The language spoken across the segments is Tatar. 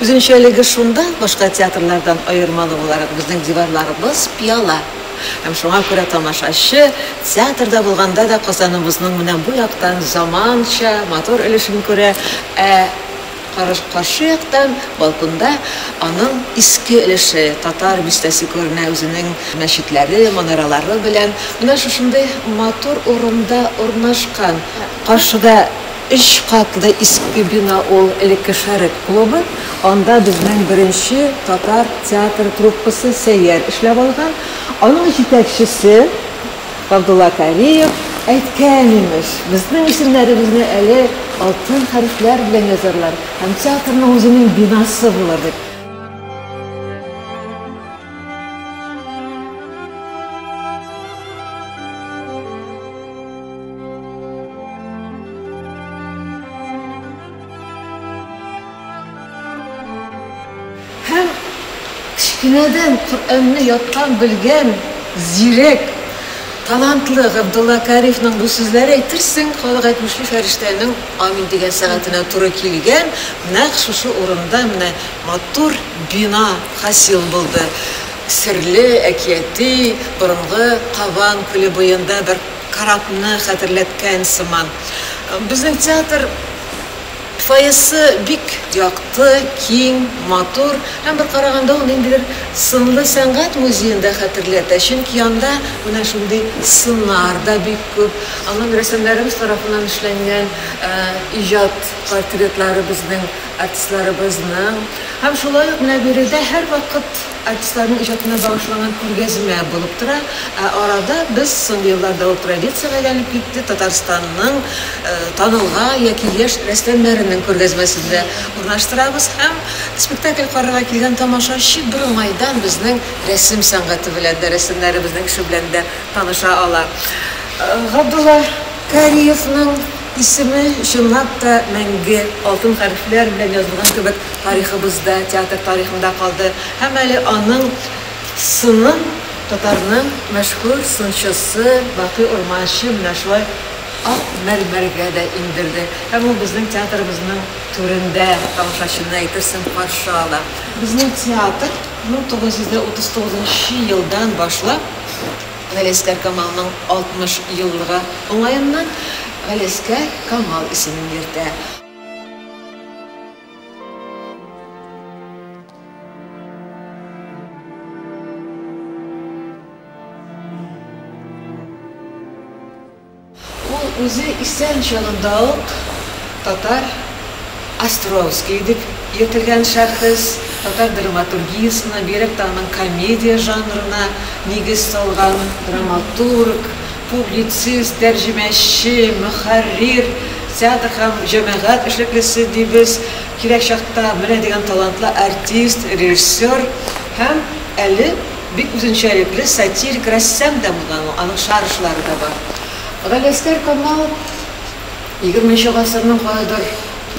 Үзенчәлеге шунда, башка театрлардан аермалы буларак, безнең диварларыбыз пыяла. Һәм шуңа күрә тамашачы, театрда булганда да, Казаныбызның менә бу яктан заманча, матур өлешен күрә, ә каршы яктан, балконда аның иске өлеше, татар бистәсе күренә үзенең мәчетләре, манаралары белән. Менә шушындый матур урында урнашкан. Каршыда Өч катлы иске бина ул, элекке Шәрык клубы. Анда безнең беренче татар театр труппасы Сәйяр эшләп алган. Аның җитәкчесе Габдулла Кариев әйткән, имеш, безнең исемнәребезне әле алтын хәрефләр белән язарлар һәм театрның үзенең бинасы булыр дип. Һәм кечкенәдән Коръәнне яттан белгән зирәк, талантлы Габдулла Кариевның бу сүзләре, әйтерсең, халык әйтмешли, фәрештәнең амин дигән сәгатенә туры килгән, нәкъ шушы урында менә матур бина хасил булды. Серле, әкияти, борынгы Кабан күле буенда бер. Корабны хәтерләткән сыман. Безнең театр фойесы бик якты, киң, матур һәм бер караганда ул ниндидер сынлы сәнгать музеен да хәтерләтә, чөнки анда менә шундый сыннар да бик күп. Аннан рәссамнарыбыз тарафыннан эшләнгән иҗат портретлары безнең артистларыбызның. Һәм шулай ук менә биредә һәрвакыт. Артистларның иҗатына багышланган күргәзмә булып тора. Ә арада без, соңгы елларда ул традициягә әйләнеп китте, Татарстанның танылган яки яшь рәссамнарының күргәзмәсен дә урнаштырабыз һәм спектакль карарга килгән тамашачы бер уңайдан безнең рәсем сәнгате белән дә, рәссамнарыбызның эше белән дә таныша ала. Габдулла. Кариевның исеме чынлап та мәңге алтын хәрефләр белән язылган кебек тарихыбызда, театр тарихында калды һәм әле аның сынын татарның мәшһүр сынчысы Бакый Урманче менә шулай ак мәрмәргә дә иңдерде һәм ул безнең театрыбызның түрендә тамашачыны, әйтерсең, каршы ала. Безнең театр 1939 елдан башлап, Галиәсгар Камалның 60 еллыгы уңаеннан Галиәсгар Камал исемен йөртә. Ул үзе исән чагында ук татар Островский дип йөртелгән шәхес, татар драматургиясенә, бигрәк тә аның комедия жанрына нигез салган драматург, публицист, тәрҗемәче, мөхәррир, театр һәм җәмәгать эшлеклесе дибез, кирәк чакта менә дигән талантлы артист, режиссер һәм әле, Бик үзенчәлекле сатирик рәссам да булган ул, аның шаржлары да бар. Галиәсгар Камал егерме нче гасырның кайбер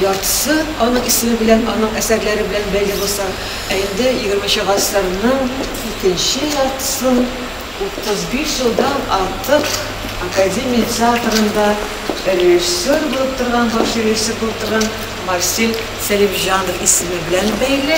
яртысы аның исеме белән, аның әсәрләре белән бәйле булса, ә инде егерме нче гасырның икенче яртысын утыз биш елдан артык Академия театрында режиссер булып торган, баш режиссер булып торган Марсель Сәлимҗанов исеме белән бәйле.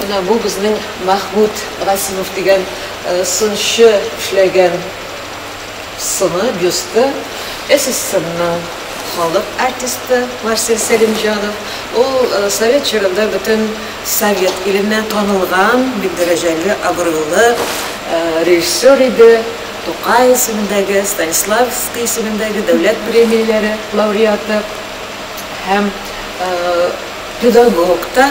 Менә бу безнең Мәхмүт Гасимов дигән сынчы эшләгән сыны, бюсты. СССРның халык артисты Марсель Сәлимҗанов. Ул совет чорында бөтен совет иленнән танылган, бик дәрәҗәле, абруйлы режиссер иде. Тукай исемендәге, Станиславский исемендәге дәүләт премияләре лауреаты һәм. Педагог та,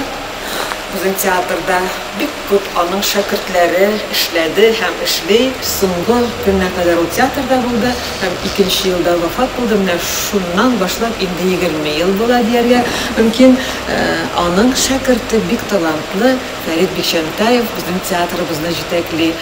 безнең театрда бик күп аның шәкертләре эшләде һәм эшли. Соңгы көнгә кадәр ул театрда булды һәм икенче елда вафат булды. Менә шуннан башлап инде егерме ел була дияргә мөмкин. Аның шәкерте, бик талантлы Фәрит Бикчәнтәев безнең театрыбызны җитәкли.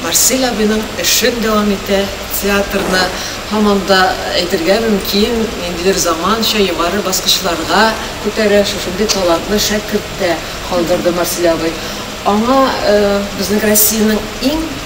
Марсель абыйның эшен дәвам итә, театрны һаман да әйтергә мөмкин, ниндидер заманча югары баскычларга күтәрә, шушындый талантлы шәкерт тә калдырды Марсель абый. Аңа э, безнең Россиянең иң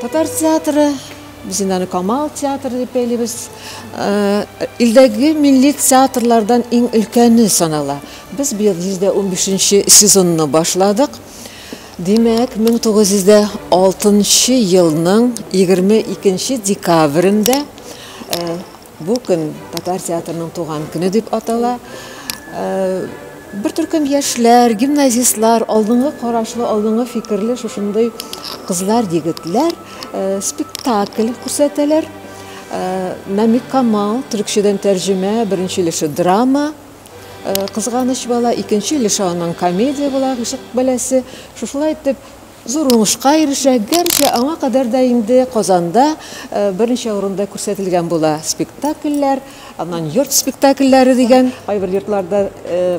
Татар театры biz indi Камал театры дип әйлибез. Э, илдәге милли театрлардан иң өлкәне санала. Без быел 115 сезонны башладык. Димәк, 1906 елның 22 декабрендә бу көн татар театрының туган көне дип атала. Бер төркем яшьләр, гимназистлар, алдынгы карашлы, алдынгы фикерле шушындый кызлар, егетләр спектакль күрсәтәләр. Намикамал, төрекчәдән тәрҗемә, беренче өлеше драма. Кызганыч бала икенче өлеше аның комедия була, гыйшык бәласе. Шушылай итеп, зур уңышка ирешә, гәрчә аңа кадәр дә инде Казанда берничә урында күрсәтелгән була спектакльләр, аннан йорт спектакльләре дигән. Кайбер йортларда,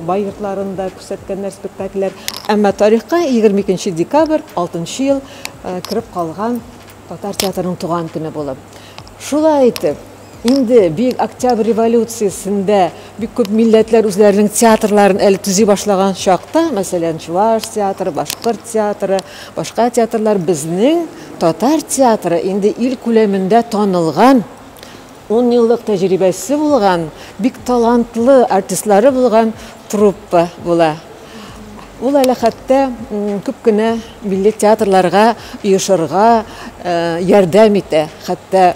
бай йортларында күрсәткәннәр спектакльләр. Әмма тарихка егерме икенче декабрь, алтынчы ел, кереп калган татар театрының туган көне булып. Шулай итеп, Инде Бөек Октябрь революциясендә бик күп милләтләр үзләренең театрларын әле төзи башлаган чакта, мәсәлән, чуваш театры, башкорт театры, башка театрлар, безнең татар театры инде ил күләмендә танылган, унъеллык тәҗрибәсе булган, бик талантлы артистлары булган труппа була. Ул әле хәтта күп кенә милли театрларга оешырга ярдәм итә, хәтта.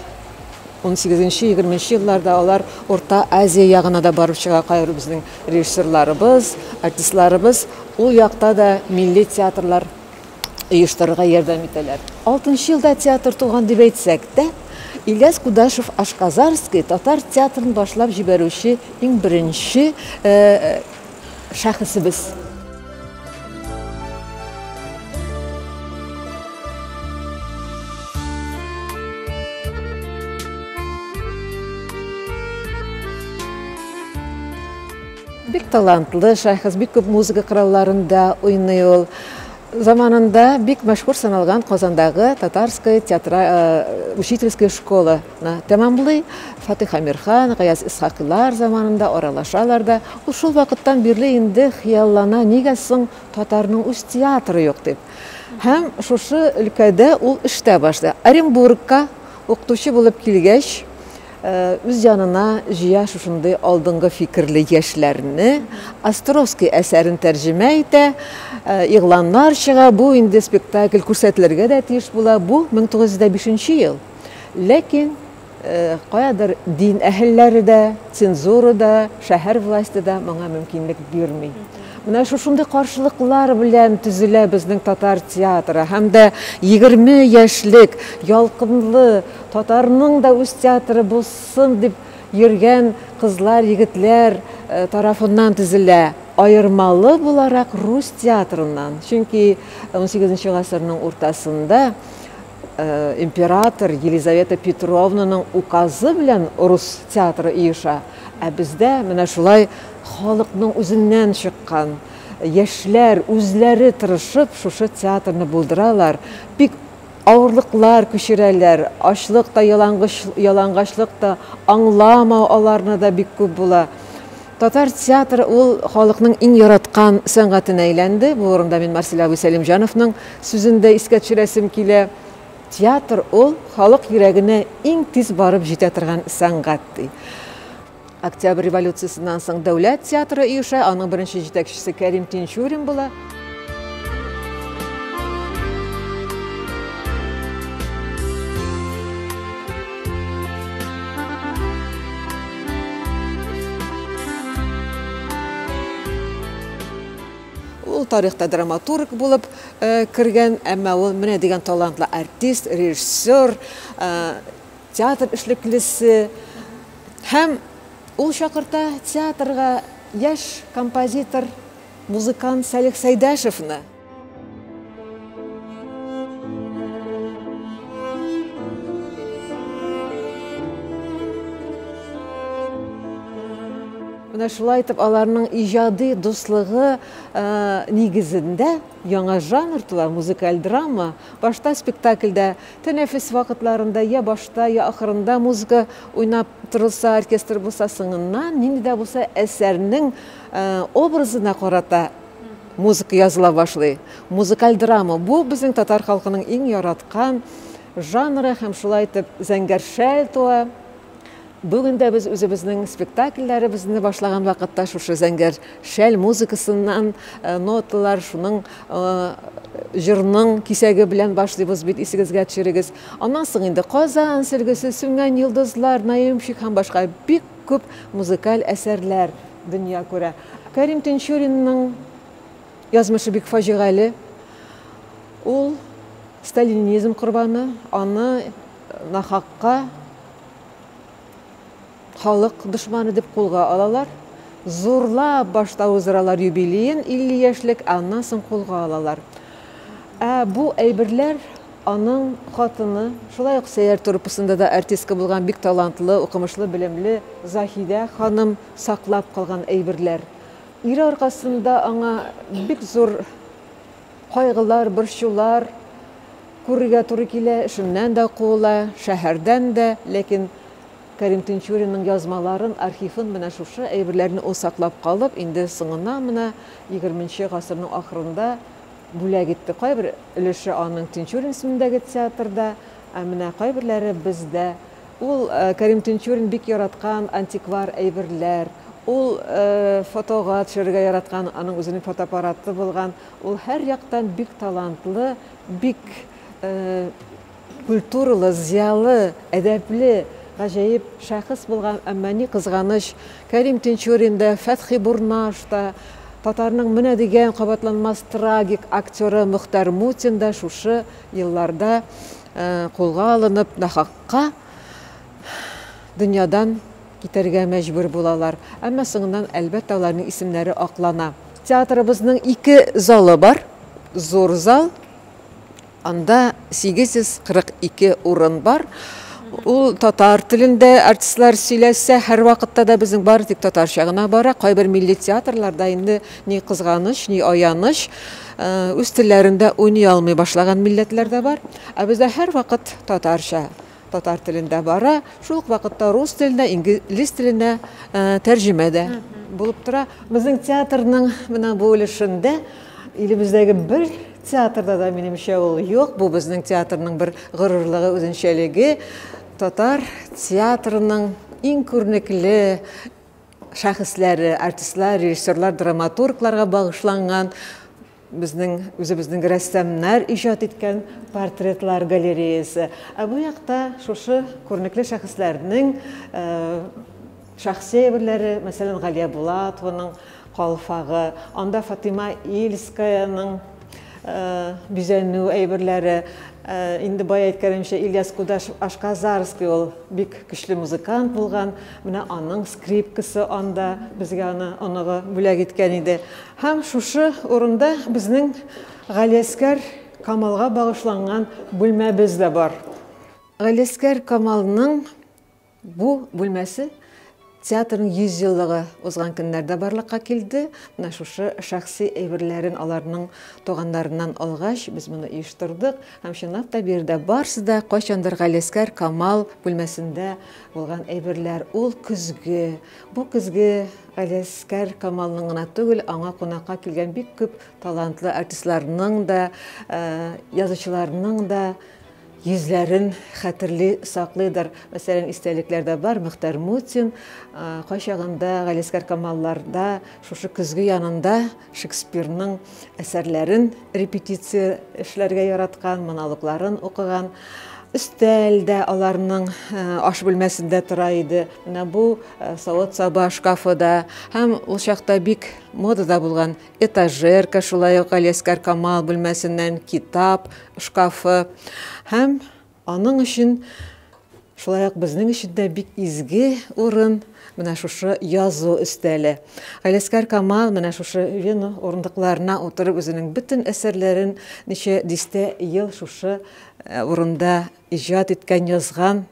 18-20 нче елларда алар Урта Азия ягына да барып чыга кайбер безнең режиссерларыбыз, артистларыбыз ул якта да милли театрлар оештырырга ярдәм итәләр. Алтынчы елда театр туган дип әйтсәк тә, Ильяс Кудашев Ашказарский татар театрын башлап җибәрүче иң беренче шәхесебез. Бик талантлы шәхес, бик күп музыка коралларында уйный ул. Заманында бик мәшһүр саналган Казандагы татарская театра э, учительская школа Тәмамлый. Фатыйх Әмирхан, Гаяз Исхакыйлар заманында аралашалар да, ул шул вакыттан бирле инде хыяллана, нигә соң татарның үз театры юк дип. Һәм шушы өлкәдә ул эштә башлый. Оренбургка укытучы булып килгәч, үз янына җыя шушындый алдынгы фикерле яшьләрне, Островский әсәрен тәрҗемә итә, игъланнар чыга, бу инде спектакль күрсәтелергә дә тиеш була, бу 1905 ел. Ләкин каядыр дин әһелләре дә, цензура да, шәһәр власте да моңа мөмкинлек бирми. Менә шушындый каршылыклар белән төзелә безнең татар театры һәм дә 20 яшьлек ялкынлы татарның да үз театры булсын дип йөргән кызлар, егетләр э, тарафыннан төзелә. Аермалы буларак рус театрыннан. Чөнки 18 гасырның уртасында Император Елизавета Петровнаның указы белән рус театры оеша, ә бездә менә шулай халыкның үзеннән чыккан яшьләр үзләре тырышып шушы театрны булдыралар, бик авырлыклар күчерәләр, ачлык та, ялангачлык та, аңламау аларны да бик күп була. Татар театры ул халыкның иң яраткан сәнгатенә әйләнде. Бу урында мин Марсель абый Сәлимҗановның сүзен дә искә төшерәсем килә. Театр ул, халык йөрәгенә иң тиз барып җитә торган сәнгать, ди. Октябрь революциясеннән соң Дәүләт театры оеша, аның беренче җитәкчесе Кәрим Тинчурин була. Ул тарихта драматург булып э, кергән, әмма ул менә дигән талантлы артист, режиссер, э, театр эшлеклесе һәм ул чакырта театрга яшь композитор Музыкант Салих Сәйдәшевны. Менә шулай итеп аларның иҗади дуслыгы э, нигезендә яңа жанр тула, музыкаль драма. Башта спектакльдә тәнәфес вакытларында я башта, я ахырында музыка уйнап торылса, оркестр булса, соңыннан нинди дә булса әсәрнең Образына карата музыка языла башлый. Музыкаль драма, бу безнең татар халкының иң яраткан жанры һәм шулай итеп Зәңгәр шәл туа. Бүген дә без үзебезнең спектакльләребезне башлаган вакытта шушы Зәңгәр шәл музыкасыннан ноталар, шуның җырның кисәге белән башлыйбыз бит, исегезгә төшерегез. Аннан соң инде Казан сөлгесе, Сүнгән йолдызлар, Наемщик һәм башка бик Күп музыкаль әсәрләр дөнья күрә. Кәрим Тинчуринның язмышы бик фаҗигале. Ул сталинизм корбаны, аны нахакка халык дошманы дип кулга алалар. Зурлап башта уздыралар юбилеен, 50 яшьлек, ә аннан соң кулга алалар. Ә бу әйберләр Аның хатыны, шулай ук Сәйяр труппасында да артистка булган бик талантлы, укымышлы, белемле Заһидә ханым саклап калган әйберләр. Ире аркасында аңа бик зур кайгылар, борчулар күрергә туры килә, эшеннән дә куыла, шәһәрдән дә. Ләкин Кәрим Тинчуринның язмаларын, архивын, менә шушы әйберләрне ул саклап калып, инде соңына, менә егерменче гасырның ахырында, бүләк итте. Кайбер өлеше аның Тинчурин исемендәге театрда, ә менә кайберләре бездә. Ул Кәрим Тинчурин бик яраткан антиквар әйберләр, ул фотога төшерергә яраткан, аның үзенең фотоаппараты булган. Ул һәрьяктан бик талантлы, бик Культуралы, зыялы, әдәпле, гаҗәеп шәхес булган, әмма, ни кызганыч, Кәрим Тинчурин да, Фәтхи Бурнаш та, татарның менә дигән кабатланмас трагик актеры Мөхтәр Мутин да шушы елларда кулга алынып, нахакка дөньядан китәргә мәҗбүр булалар. Әмма соңыннан, әлбәттә, аларның исемнәре аклана. Театрыбызның ике залы бар, зур зал, Анда 842 урын бар. Ул татар телендә артистлар сөйләсә, һәрвакытта да безнең бары тик татарча гына бара. Кайбер милли театрларда инде ни кызганыч, ни аяныч, үз телләрендә уйный алмый башлаган милләтләр дә бар. Ә бездә һәрвакыт татарча. Татар телендә бара, шул ук вакытта рус теленә, инглиз теленә тәрҗемә дә булып тора. Безнең театрның менә бу өлешендә илебездәге бер театрда да минемчә ул юк. Бу безнең театрның бер горурлыгы, үзенчәлеге. Татар театрының иң күренекле шәхесләре, артистлар, режиссерлар, драматургларга багышланган Безнең үзебезнең рәссамнар иҗат иткән портретлар галереясе. Ә бу якта шушы күренекле шәхесләрнең шәхси әйберләре, мәсәлән, Галия Булатованың калфагы, анда Фатыйма Ильскаяның бизәнү әйберләре, инде бай әйткәнемчә, Ильяс Кудаш Ашказарский ул бик көчле музыкант булган, менә аның скрипкасы анда, безгә аны оныгы бүләк иткән иде. Һәм шушы урында безнең Галиәскәр Камалга багышланган бүлмәбез дә бар. Галиәскәр Камалның бу бүлмәсе театрның 100 еллыгы узган көннәрдә барлыкка килде. Менә шушы шәхси әйберләрен аларның туганнарыннан алгач, без моны оештырдык. Һәм чынлап та биредә барсы да кайчандыр Галиәскәр Камал бүлмәсендә булган әйберләр. Ул көзге, бу көзге Галиәсгар Камалның гына түгел, аңа кунакка килгән бик күп талантлы артистларның да, язучыларның да йөзләрен хәтерли, саклыйдыр. Мәсәлән, истәлекләрдә бар Мөхтәр Мутин, кайчагында Галиәсгар Камалларда, шушы көзге янында, Шекспирның әсәрләрен репетиция эшләргә яраткан, монологларын укыган. Өстәл дә аларның э, аш бүлмәсендә тора иде. Менә бу э, савыт-саба шкафы да һәм ул чакта бик модада булган этажерка, шулай ук Алескар Камал бүлмәсеннән китап шкафы һәм Аның өчен, шулай ук безнең өчен дә бик изге урын менә шушы язу өстәле. Галәскәр Камал менә шушы вено урындыкларына утырып үзенең бөтен әсәрләрен ничә дистә ел шушы урында иҗат иткән, язган.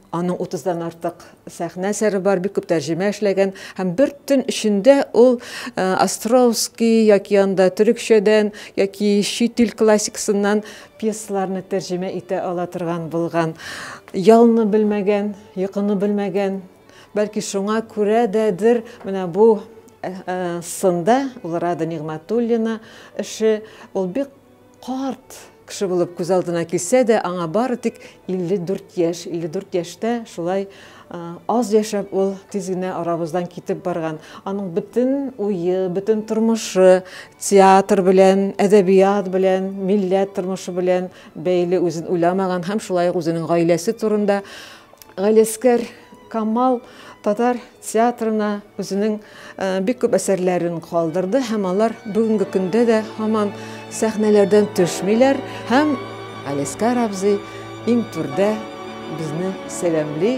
Аның утыздан артык сәхнә әсәре бар, бик күп тәрҗемә эшләгән һәм бер төн эчендә ул э, Островский яки анда төрекчәдән яки чит ил классикасыннан пьесаларны тәрҗемә итә ала торган булган. Ялны белмәгән, йокыны белмәгән. Бәлки шуңа күрә дәдер менә бу э, э, сында ул Рада Нигъмәтуллина эше ул бик Карт кеше булып күз алдына килсә дә, аңа бары тик 54 яшь. 54 яшьтә шулай аз яшәп ул тиз генә арабыздан китеп барган. Аның бөтен уе, бөтен тормышы театр белән, әдәбият белән, милләт тормышы белән бәйле, үзен уйламаган һәм шулай ук үзенең гаиләсе турында Галиәскәр Камал татар театрына үзенең э, бик күп әсәрләрен калдырды һәм алар бүгенге көндә дә һаман сәхнәләрдән төшмиләр һәм Галиәскәр абзый иң түрдә безне сәламли